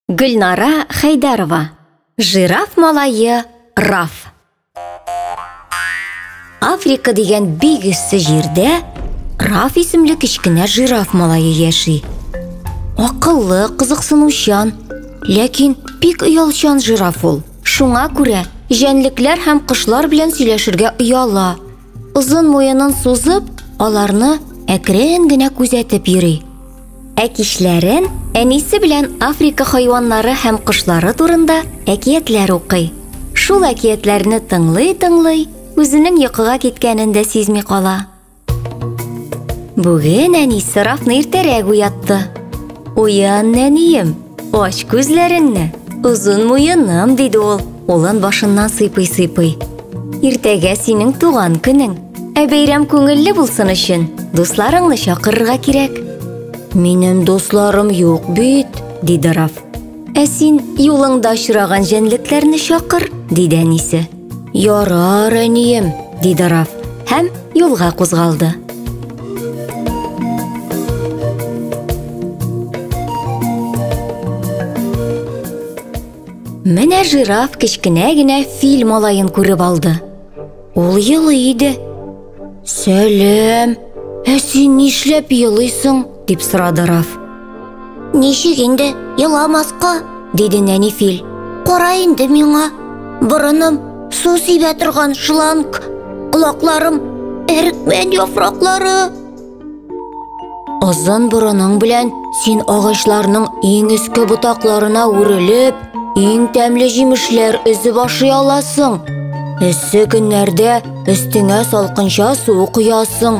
Гөлнара Хәйдәрова. Жираф малайы Раф. Африка дигән бик эссе җирдә Раф исемле кечкенә жираф малайы яши. Акыллы, кызыксынучан, ләкин бик оялчан жираф ул. Шуңа күрә җәнлекләр һәм кошлар белән сөйләшергә ояла. Озын муенын сузып, аларны әкрен генә күзәтеп йөри. Ә кичләрен әнисе белән Африка хайваннары һәм кошлары турында әкиятләр укый. Шул әкиятләрне тыңлый-тыңлый, үзенең йокыга киткәнен дә сизми кала. Бүген әнисе Рафны иртәрәк уятты. Уян, нәнием, Ач күзләреңне, озын муеным, диде ул, улын башыннан сыйпый-сыйпый. Иртәгә синең туган көнең. Ә бәйрәм күңелле булсын өчен, дусларыңны чакырырга кирәк. Минем дусларым юк бит, диде Раф. Ә син юлыңда очраган җәнлекләрне чакыр, диде әнисе. Ярар, әнием, диде Раф һәм юлга кузгалды. Менә жираф кечкенә генә фил малаен күреп алды. Ул елый иде. Сәлем, ә син нишләп елыйсың? дип сорады Раф. Ничек инде еламаска? диде нәни фил. Кара инде миңа. Борыным су сибә торган шланг, колакларым әрекмән яфраклары. Озын борының белән син агачларның иң өске ботакларына үрелеп, иң тәмле җимешләр өзеп ашый аласың. Эссе көннәрдә өстеңә салкынча су коясың.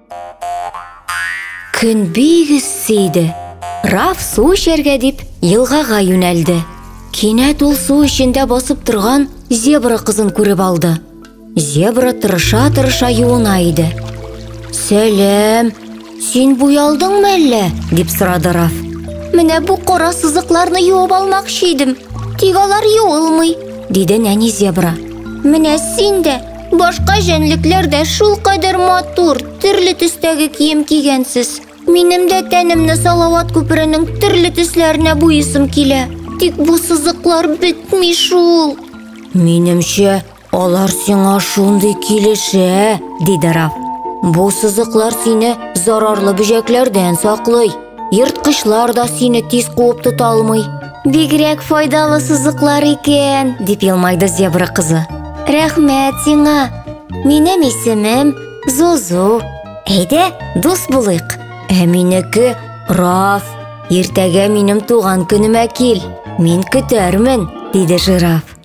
Көн бик эссе иде. Раф су эчәргә дип елгага юнәлде. Кинәт ул су эчендә басып торган зебра кызын күреп алды. Зебра тырыша-тырыша юына иде. Сәлем, син буялдыңмы әллә? дип сорады Раф. Менә бу кара сызыкларны юып алмакчы идем. Тик алар юылмый, диде нәни зебра. Менә син дә Башка җәнлекләр дә шулкадәр матур, төрле төстәге кием кигәнсез. Минем дә тәнемне Салават күперенең төрле төсләренә буйыйсым килә. Тик бу сызыклар бетми шул. Минемчә, алар сиңа шундый килешә, диде Раф. Бу сызыклар сине зарарлы бөҗәкләрдән саклый. Ерткычлар да сине тиз куып тота алмый. Бигрәк файдалы сызыклар икән, дип елмайды зебра кызы. Рәхмәт сиңа. Минем исемем Зузу. Әйдә, дус булыйк. Ә минеке Раф. Иртәгә минем туган көнемә кил. Мин көтәрмен, диде жираф.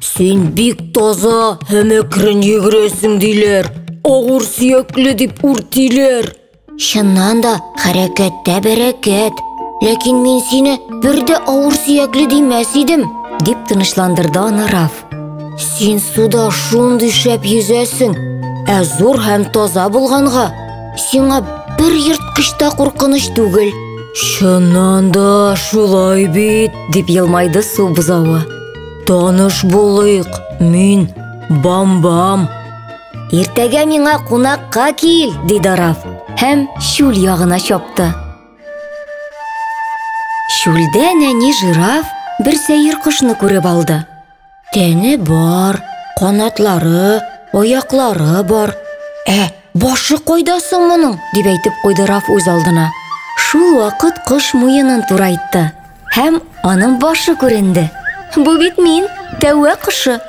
Син бик таза һәм әкрен йөгерәсең, диләр. Авыр сөякле дип үртиләр. Чыннан да, хәрәкәттә бәрәкәт. Ләкин мин сине бер дә авыр сөякле димәс идем, дип тынычландырды аны Раф. Син суда шундый шәп йөзәсең, ә зур һәм таза булганга, сиңа бер ерткыч та куркыныч түгел. Чыннан да шулай бит, дип елмайды су бозавы. Таныш булыйк, мин Бамбам. Иртәгә миңа кунакка кил, диде Раф һәм чүл ягына чапты. Чүлдә нәни жираф бер сәер кошны күреп алды. Тәне бар, канатлары, аяклары бар. Ә Башы кайда соң моның? дип әйтеп куйды Раф үз алдына. Шул вакыт кош муенын турайтты һәм аның башы күренде. Бу бит мин, тәвә кошы.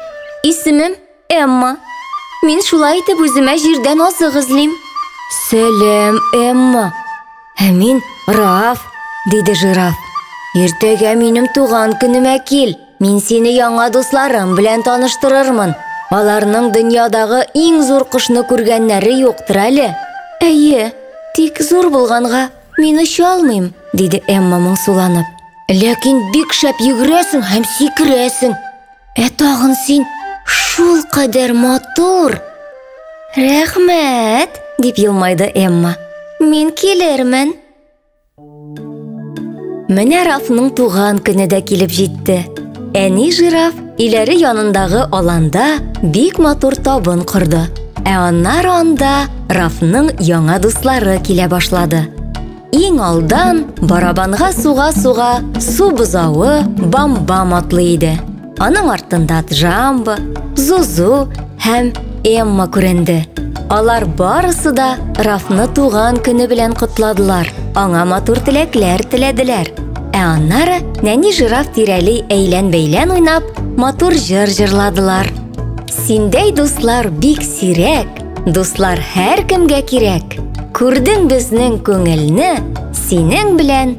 Исемем Эмма. Мин шулай итеп үземә җирдән азык эзлим. Сәлам, Эмма. Ә мин Раф, диде жираф. Иртәгә минем туган көнемә кил. Мин сине яңа дусларым белән таныштырырмын. Аларның дөньядагы иң зур кошны күргәннәре юктыр әле. Әйе, тик зур булганга мин оча алмыйм, диде Эмма моңсуланып. Ләкин бик шәп йөгерәсең һәм сикерәсең. Ә тагын син шул кадәр матур. Рәхмәт, дип елмайды Эмма. Мин килермен. Менә Рафның туган көне дә килеп җитте. Әни жираф иләре янындагы аланда бик матур табын корды. Ә аннары анда Рафның яңа дуслары килә башлады. Иң алдан барабанга суга-суга су бозавы Бамбам атлый иде. Аның артында Джамбо, Зузу һәм Эмма күренде. Алар барысы да Рафны туган көне белән котладылар. Аңа матур теләкләр теләделәр. Ә аннары нәни жираф тирәли әйлән-бәйлән уйнап, матур җыр җырладылар. Синдәй дуслар бик сирәк, дуслар һәр кемгә кирәк. Күрдең безнең күңелне, синең белән